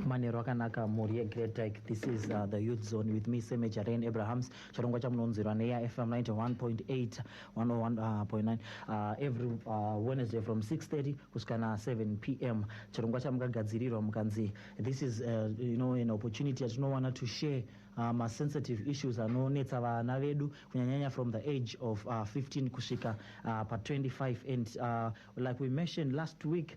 manheru akanaka mhuri yegreat dyke this is uh, the youth zone with me seme jaren abrahams chirongwa chamunonzwirwa neafm 91.8 101.9 uh, every uh, wednesday from 630 kusvika na 7 p m chirongwa chamukagadzirirwa mukanzi this is uh, you know, an opportunity yatinowana to share uh, masensitive issues anonetsa vana vedu kunyanyanya from the age of uh, 15 kusvika uh, pa 25 and uh, like we mentioned last week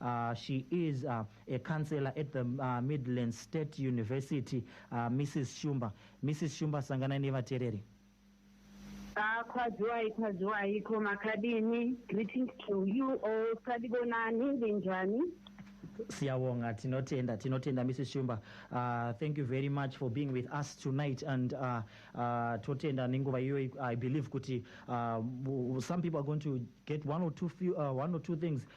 Uh, she is uh, a counselor at the uh, Midlands State University, uh, Mrs. Shumba. Mrs. Shumba, sangana nevatereri. Ah, kwaziwai kwaziwai ko makadini greetings to you all sadibonani ndinjani siyabonga tinotenda tinotenda mrs shumba uh, thank you very much for being with us tonight and uh, uh, totenda nenguva iyoyi i believe kuti uh, some people are going to get one or two, few, uh, one or two things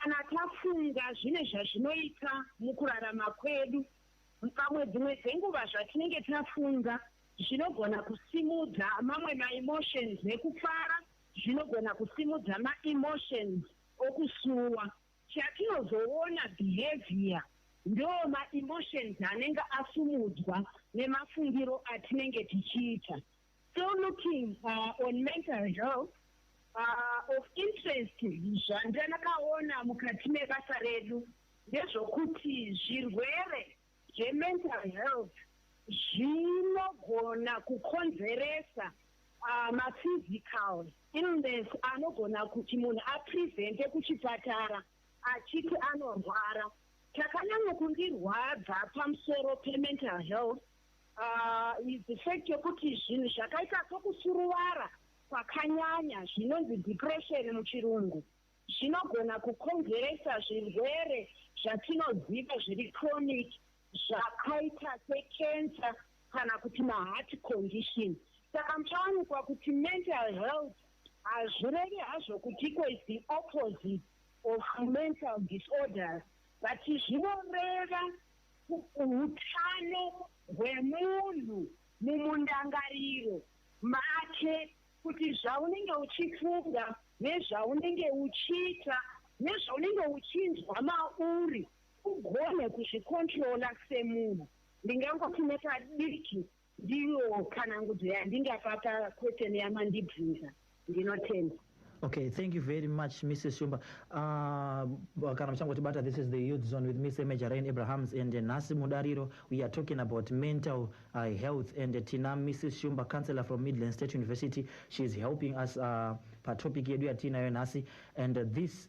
Kana tafunga zvine zvazvinoita mukurarama kwedu, pamwe dzimwe dzenguva zvatinenge tafunga zvinogona kusimudza mamwe maemotions ekufara, zvinogona kusimudza maemotions okusuwa. Chatinozoona behaviour ndoo maemotions anenge asumudzwa nemafungiro atinenge tichiita. So looking uh, on mental health uh, of interest zvandakaona mukati mebasa redu ndezvokuti zvirwere zvemental health zvinogona kukonzeresa uh, maphysical illness anogona kuti munhu aprevente kuchipatara achiti anorwara chakanyanya kundirwadza pamusoro pemental health Uh, is the fact yokuti zvinhu zvakaita sokusuruvara kwakanyanya zvinonzi depression muchirungu zvinogona kukonzeresa zvirwere zvatinoziva zviri chronic zvakaita secancer kana kuti maheart condition saka muchawanikwa kuti mental health hazvirevi hazvo kuti iko is the opposite of mental disorders but zvinoreva utano hwemunhu mumundangariro make kuti zvaunenge uchifunga nezvaunenge uchiita nezvaunenge uchinzwa mauri ugone kuzvikontrola semunhu. Ndingangoti nepadiki Ndiyo tsanangudzo yandingapa pa question yamandibvunza. Ndinotenda. Okay, thank you very much, Mrs. Shumba. Uh, kana muchangoti bata, this is the youth zone with Mr. Major Rain Abrahams and uh, Nasi Mudariro. We are talking about mental uh, health and uh, Tina, Mrs. Shumba, counselor from Midland State University. She is helping us uh, pa topic yedu yatinayo nasi and uh, this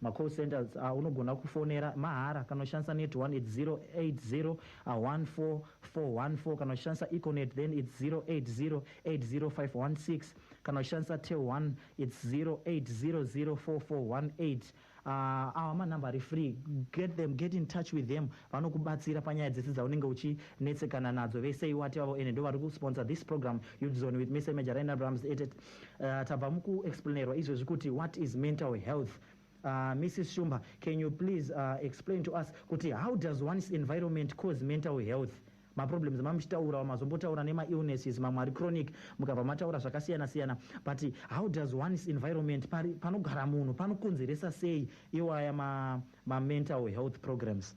Ma call centers aunogona kufonera mahara kana uchishandisa net one it's 0808044414 kana uchishandisa econet then it's 08080516 kana uchishandisa tel one it's 08004418 uh, awa manumber ari free get them get in touch with them vanokubatsira panyaya dzese dzaunenge uchinetsekana nadzo vese iwati vavo ende ndo vari kusponsor this program yudzone with mr majarain abrahams uh, tabva mukuexplainerwa izvezvi kuti what is mental health Uh, ah, mrs shumba can you please uh, explain to us kuti how does one's environment cause mental health maproblems mamuchitaurawo mazombotaura nemaillnesses mamwe ari chronic mukabva mataura zvakasiyana siyana but how does one's environment panogara munhu panokonzeresa sei iwaya mamental ma health programs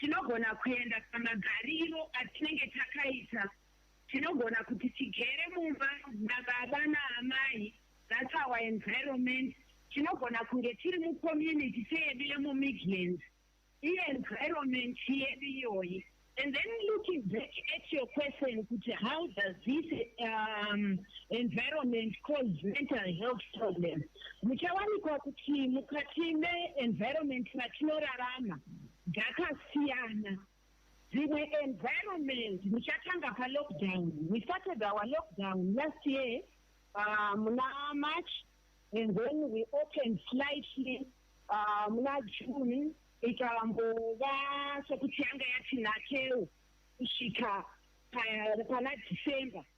Tinogona kuenda pamagariro atinenge takaita. Tinogona kuti tigere mumba nababa naamai, that's our environment. Tinogona kunge tiri mucommunity seyedu yemuMidlands, ienvironment yedu iyoyi. And then looking back at your question kuti how does this um, environment cause mental health problem, muchawanikwa kuti mukati meenvironment matinorarama dzakasiyana dzimwe environment muchatanga palockdown we started our lockdown last year uh, muna march and then we opened slightly uh, muna june ikambova sekuti yanga yatinakeo kusvika pana december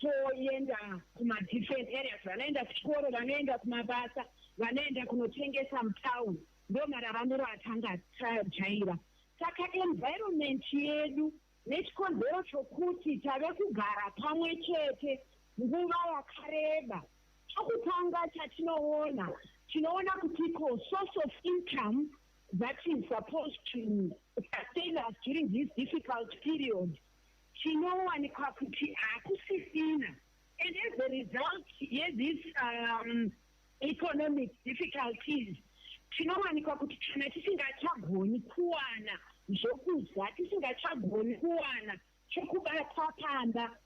Toenda kuma different areas vanoenda kuchikoro vanoenda kumabasa vanoenda kunotengesa mutown ndomararamiro atanga tajaira saka environment yedu nechikonzero chokuti tave kugara pamwe chete nguva yakareba chokutanga chatinoona tinoona kuti ko source of income that is supposed to sustain us during this difficult period chinowanikwa kuti hakusisina and as a result yethis um, economic difficulties tinowanikwa kuti kana tisingachagoni kuwana zvokudya tisingachagoni kuwana chokubata pamba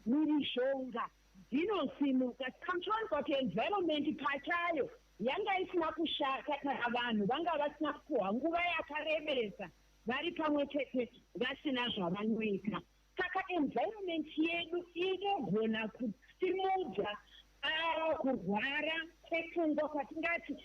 mhirizhonga dzinosimuka saka muchiwanikwa kuti environment pachayo yanga isina kushata kana vanhu vanga vasina kupuhwa nguva yakarebesa vari pamwe chete vasina zvavanoita saka environment yedu inogona kusimudza ah, kurwara kwepfungwa kwatingati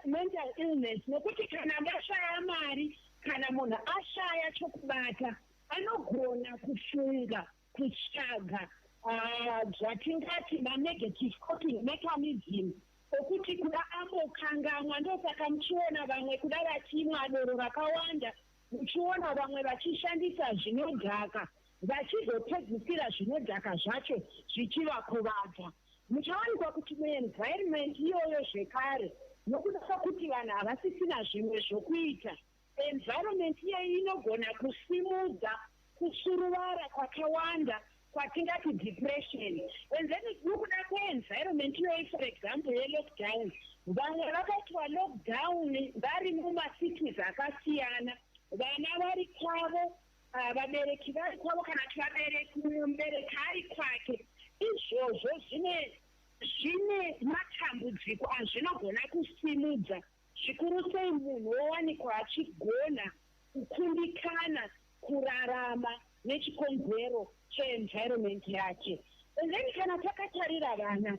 mental illness nokuti kana mashaya mari kana munhu ashaya chokubata anogona kufunga kutsvaga ah, zvatingati manegative coping mechanism okuti kuda ambokangamwa ndosaka muchiona vamwe kuda vachimwa doro rakawanda muchiona vamwe vachishandisa zvinodhaka vachizopedzisira zvinodhaka zvacho zvichivakuvadza muchawanikwa kuti muenvironment iyoyo zvekare nokuda kwekuti vanhu havasisina zvimwe zvokuita Environment iyeyi inogona kusimudza kusuruvara kwakawanda kwatingati depression and then nokuda kweenvironment iyoyi for example yelockdown vamwe vakaitwa lockdown vari mumacities akasiyana vana vari kwavo ah, vabereki vari kwavo kana kuti vabereki mumwe mubereki ari kwake izvozvo zvine zvine matambudziko azvinogona kusimudza zvikuru sei munhu wowanikwa achigona kukundikana kurarama nechikonzero che environment yake. And then kana takatarira vana,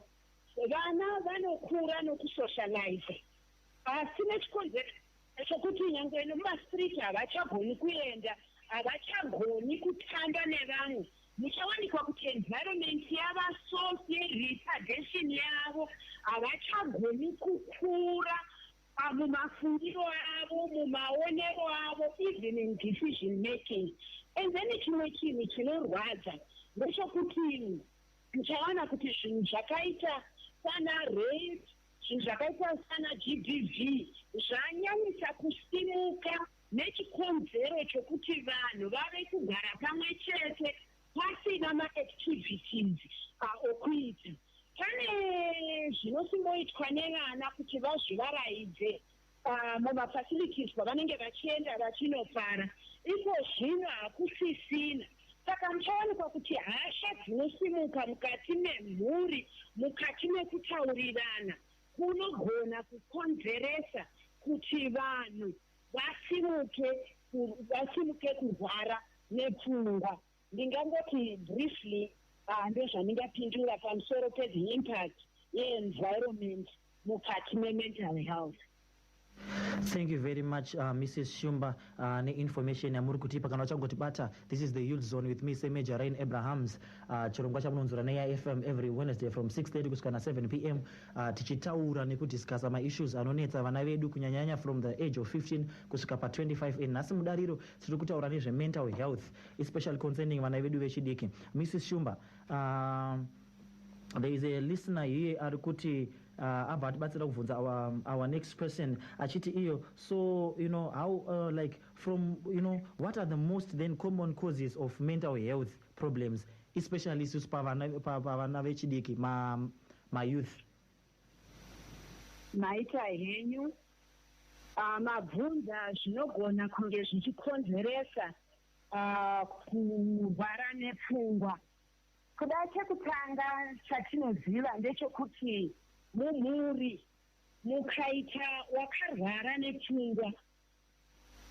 vana vanokura nokusocializer asi nechikonzero chokuti nyangwe nemumastreet havachagoni kuenda, havachagoni kutamba nevamwe Muchawanikwa kuti environment yava so seretardation yavo havachagoni kukura ah, mumafungiro avo, mumaonero avo, even in decision making. And then chimwe chinhu chinorwadza ndechokuti muchawana kuti zvinhu zvakaita sana rape zvinhu zvakaita sana GBV zvanyanyisa kusimuka nechikonzero chokuti vanhu vave kugara pamwe chete pasina maactivities okuita. Pane zvinosimboitwa nevana kuti vazvivaraidze mumafacilities kwavanenge vachienda vachinopara. Iko zvino hakusisina. Saka muchawanikwa kuti hasha dzinosimuka mukati memhuri, mukati mekutaurirana, kunogona kukonzeresa kuti vanhu vasimuke vasimuke kurwara nepfungwa ndingangoti briefly uh, ndozvandingapindura pamusoro pezi impact yeenvironment mukati memental health thank you very much uh, mrs shumba uh, neinformation yamuri kutipa kana vachangotibata this is the youth zone with me semajor rain abrahams uh, chirongwa chamunonzura neya fm every wednesday from 630 kusvika na 7 p m uh, tichitaura nekudiscussa maissues anonetsa vana vedu kunyanyanya from the age of 15 kusvika pa25 and nhasi mudariro tiri kutaura nezvemental health especially concerning vana vedu vechidiki mrs shumba uh, there is a listener here ari kuti uh, abva atibatsira kubvunza our, um, our next question achiti iyo so you know how uh, like from you know what are the most then common causes of mental health problems especially isusu pavana pa, pa, pa, vechidiki ma ma youth maita henyu uh, mabvunza zvinogona kunge zvichikonzeresa uh, kurwara nepfungwa kuda chekutanga chatinoziva ndechokuti mumhuri mukaita wakarwara nepfungwa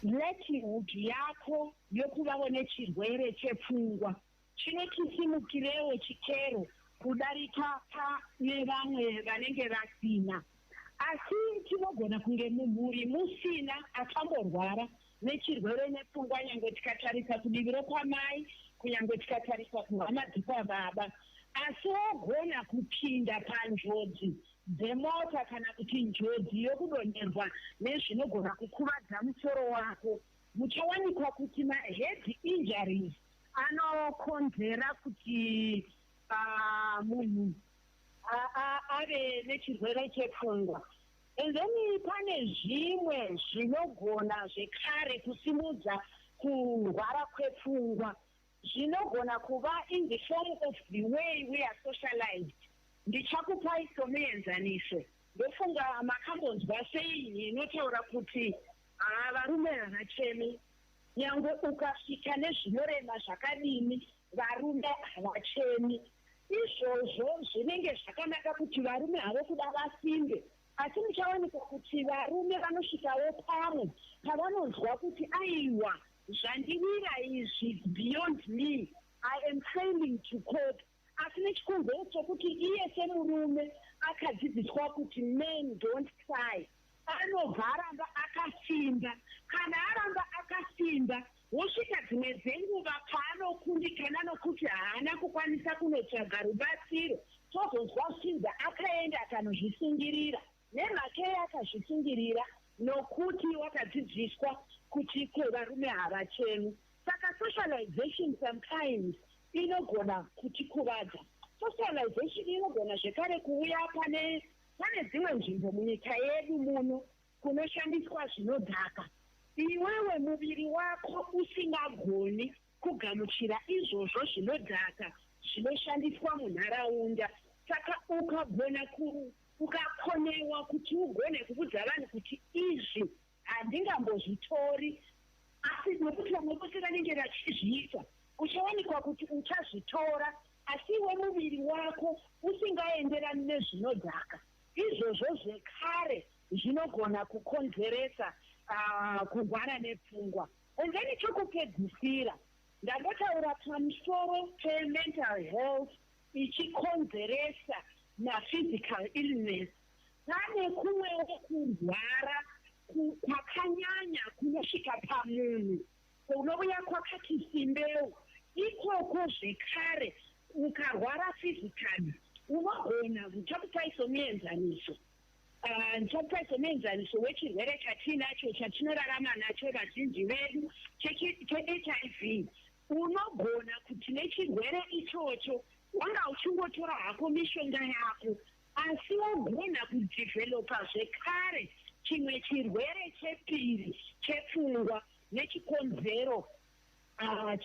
likelihood yako yokuvavo nechirwere chepfungwa Chino chisimukirewo chikero kudarika pane vamwe vanenge vasina. Asi tinogona kunge mumhuri musina akamborwara nechirwere nepfungwa nyangwe tikatarisa kudivi rokwamai kunyangwe tikatarisa kuhama dzekwababa. Asi wogona kupinda panjodzi dzemota kana kuti njodzi yokudonherwa nezvinogona kukuvadza musoro wako. Muchawanikwa kuti mahead injuries anokonzera kuti ah, munhu a- a- ave nechirwere chepfungwa and then pane zvimwe zvinogona zvekare kusimudza kurwara kwepfungwa zvinogona kuva in the form of the way we are socialized ndichakupai somuenzaniso ndofunga makambonzwa sei inotaura kuti haa varume havachemi Nyangwe ukasvika nezvinorema zvakadini, varume havachemi. Izvozvo zvinenge zvakanaka kuti varume havo kuda vasimbe, asi muchawanikwa kuti varume vanosvikawo pamwe pavanonzwa kuti aiwa, zvandiwira izvi, it's beyond me, I am failing to cope. asi nechikonzero chokuti iye semurume akadzidziswa kuti men don't cry anobva aramba akasimba kana aramba akasimba wosvika dzimwe dzenguva paanokundikana nokuti haana kukwanisa kunotsvaga rubatsiro tozonzwa shinza akaenda akanozvisungirira Nemhakei akazvisungirira? Nokuti wakadzidziswa kuti kwevarume havachemi. Saka socialization sometimes inogona kutikuvadza. Socialization inogona zvekare kuuya pane pane dzimwe nzvimbo munyika yedu muno kunoshandiswa zvinodhaka iwewe muviri wako usingagoni Kugamuchira izvozvo zvinodhaka zvinoshandiswa munharaunda saka ukagona ku ukakonewa kuti ugone kuvudza vanhu kuti izvi handingambozvitori asi nokuti vamwe vose vanenge vachizviita uchawanikwa kuti uchazvitora asi iwe muviri wako usingaenderani nezvinodhaka izvozvo zvekare zvinogona kukonzeresa uh, kurwara nepfungwa Kunze nechokupedzisira, ndangotaura pamusoro pemental health ichikonzeresa maphysical illness, pane kumwewo kurwara kwakanyanya kunosvika pamunhu kunouya kwakati simbeu. Ikoko zvekare, ukarwara physically, unogona, kutarisai somuenzaniso, Ah, ndopa somuenzaniso wechirwere chatiinacho chatinorarama nacho vazhinji vedu chehiv unogona kuti nechirwere ichocho wanga uchingotora hako mishonga yako asi wogona kudhivhelopa zvekare chimwe chirwere chepiri chepfungwa nechikonzero ah,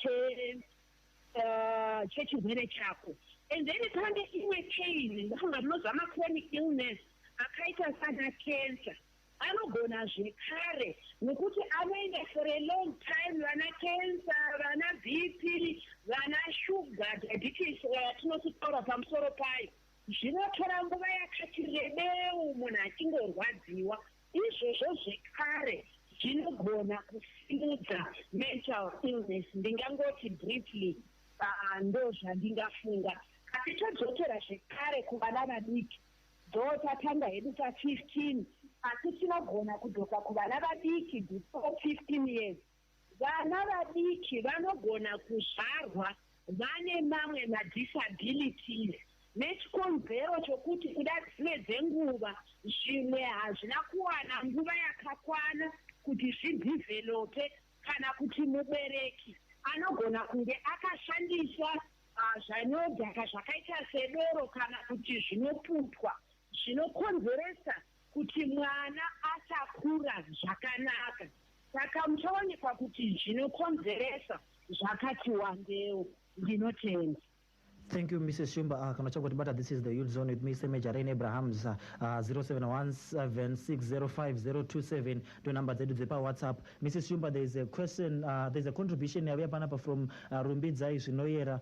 uh, chechirwere chako and then pane imwe pain ndinofunga munozva machronic illness akaita sana cancer anogona zvekare nekuti anoenda for a long time vana cancer vana bp vana sugar diabetes tinotitaura pamusoro payo zvinotora nguva yakati rebeu munhu achingorwadziwa Izvozvo zvekare zvinogona kusimudza mental illness, ndingangoti briefly ndozvandingafunga. Asi todzokera zvekare kuvana vadiki, though tatanga hedu pa 15 asi tinogona kudzoka kuvana vadiki before 15 years Vana vadiki vanogona kuzvarwa vane mamwe madisabilities nechikonzero chokuti kuda dzimwe dzenguva zvimwe hazvina kuwana nguva yakakwana kuti zvidhivhelope kana kuti mubereki anogona kunge akashandisa zvinodhaka zvakaita sedoro kana kuti zvinoputwa zvinokonzeresa kuti mwana asakura zvakanaka saka muchaonekwa kuti zvinokonzeresa zvakati wandewo ndinotenda Thank you, Mrs. Shumba. Uh, kana chako tibata, this is the youth zone with me, Seme Jarain Abrahams, uh, ah, 0717605027, ah, to number dzedu dzepa WhatsApp. Mrs. Shumba, there is a question, uh, there is a contribution yavuya panapa from uh, Rumbidzai Zvinoyera,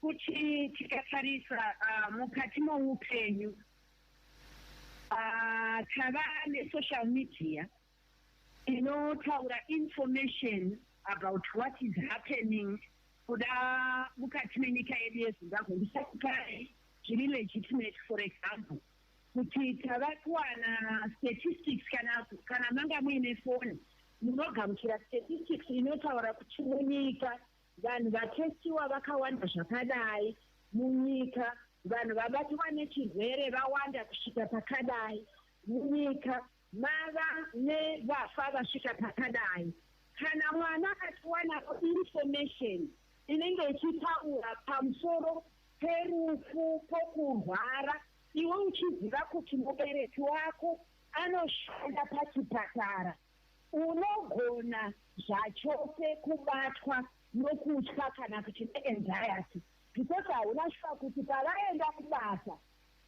Kuti tikatarisa uh, mukati moupenyu uh, tava nesocial media inotaura information about what is happening kuda mukati menyika yedu yezimbabwe ndisakupai zviri legitimate for example kuti tava kuwana statistics kana kana manga muine foni munogamuchira statistics inotaura kuti munyika Vanhu vatestiwa vakawanda zvakadai munyika. Vanhu vabatiwa nechirwere vawanda kusvika pakadai munyika. Mava nevafa vasvika pakadai. Kana mwana akatiwanawo information inenge ichitaura pamusoro perufu pokurwara, iwe uchiziva kuti mubereki wako anoshanda pachipatara, Unogona zvachose kubatwa nokutya kana kuti neanxiety because hauna shuwa kuti pavaenda kubasa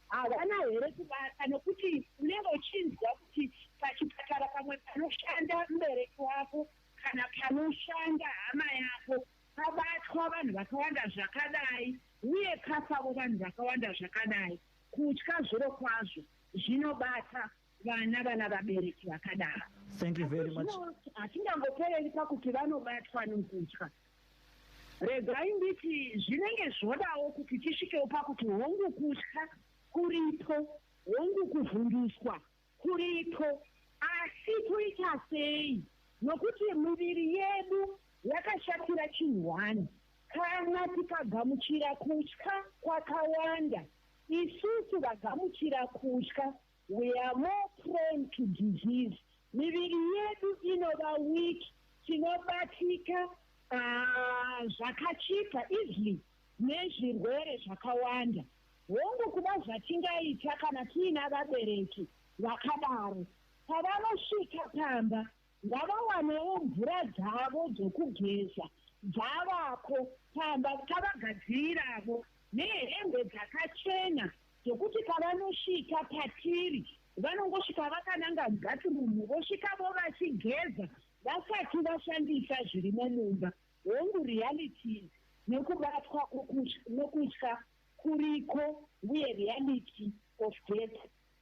havana here kubata nokuti unenge uchinzwa kuti pachipatara pamwe panoshanda mubereki wako kana panoshanda hama yako pabatwa vanhu vakawanda zvakadai uye pafavo vanhu vakawanda zvakadai kutya zviro kwazvo zvinobata vana vana vabereki vakadaro thank you very much hatingangopereri pakuti vanobatwa nokutya regai nditi zvinenge zvodawo kuti tisvikewo pakuti hongu kutya kuripo hongu kuvhunduswa kuripo asi kuita sei nokuti miviri yedu yakashatira chinhu wani kana tikagamuchira kutya kwakawanda isusu vagamuchira kutya We are more prone to disease. Miviri yedu inova weak, tinobatika uh, zvakachipa easily nezvirwere zvakawanda. Hongu kuda zvatingaita kana tiina vabereki vakadaro. Pavanosvika pamba Ngavawanewo mvura dzavo dzokugeza dzavako pamba tavagadziriravo, nehembe dzakachena dzokuti pavanosvika patiri vanongosvika vakananga mubathirumu vosvikavo vachigeza vasati vashandisa zvirimo mumba. Hongu, realities nekubatwa nokutya kuriko uye reality of death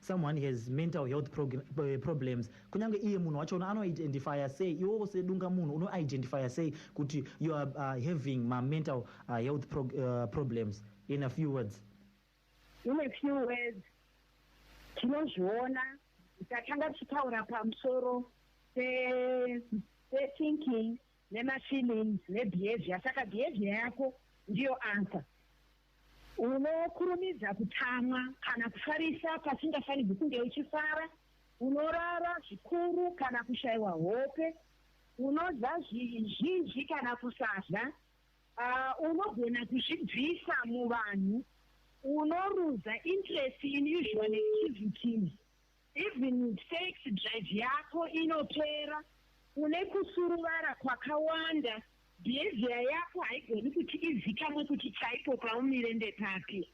Someone has mental health prog- eh, problems. Kunyange iye munhu wacho uno anoidentifier sei iwowo sedunga munhu unoidentifier sei kuti you are uh, having ma mental uh, health prog- uh, problems in a few words. in a few words tinozviona tatanga tichitaura pamusoro pe- pethinking nemafeelings nebehavior saka behavior yako ndiyo answer Unokurumidza kutsamwa kana kufarisa pasingafanirwi kunge uchifara. Unorara zvikuru kana kushaiwa hope. Unodya zvizhinji kana kusadya. Uh, unogona kuzvibvisa muvanhu. Unoruza interest in usual activities. Even sex drive yako inopera, une kusuruvara kwakawanda, behavior yako haigoni kuti izikamwe kuti chaipo paumire ndepapi.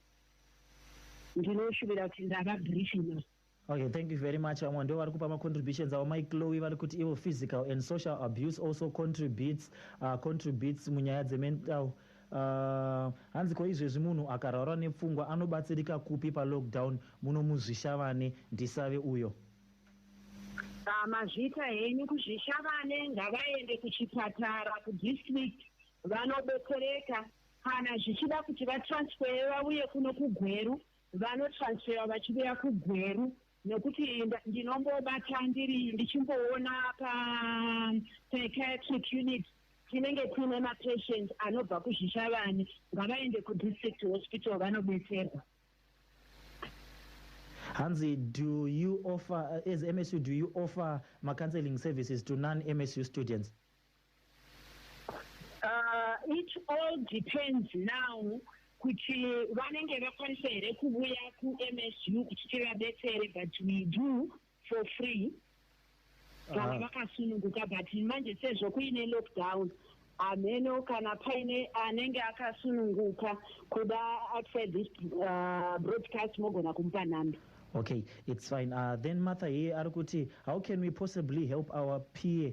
Ndinoshuvira kuti ndava brief enough. Okay, thank you very much. Vamwe ndivo vari kupa macontributions avo mai Chloe vari kuti ivo physical and social abuse also contributes, uh, contributes munyaya dzemental uh, Uh, hanzi ko izvezvi munhu akarwara nepfungwa anobatsirika kupi palockdown muno muzvishavane ndisave uyo ah, mazvita henyu kuzvishavane ngavaende kuchipatara kudistrict vanobetsereka kana zvichida kuti vatransfere vauye kuno kugweru vanotransfera vachiuya kugweru nokuti ndinombobata ndiri ndichimboona pa psychiatric unit tinenge kuine mapatient anobva kuzvishavani ngavaende kudistrict hospital vanobetserwa hanzi do you offer as msu do you offer macounseling services to non msu students Uh, it all depends now kuti vanenge vakwanisa here kuvuya kumsu kuti tivabetsere but we do for free vanga ah. vakasununguka but manje sezvo kuine lockdown hameno kana paine anenge akasununguka kuda outside this uh, broadcast mogona kumupa nhamba okay it's fine uh, then martha here ari kuti how can we possibly help our peer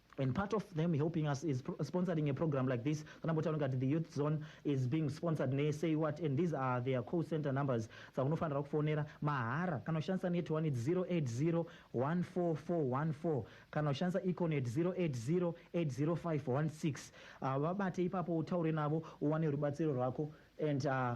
and part of them helping us is sponsoring a program like this kana mbotaura ngati the youth zone is being sponsored ne say what and these are their call center numbers dzakunofanira kufonera mahara kana ushandisa net one it's 08014414 kana ushandisa econet 08080516 uh, vabate ipapo utaure navo uwane rubatsiro rwako and uh,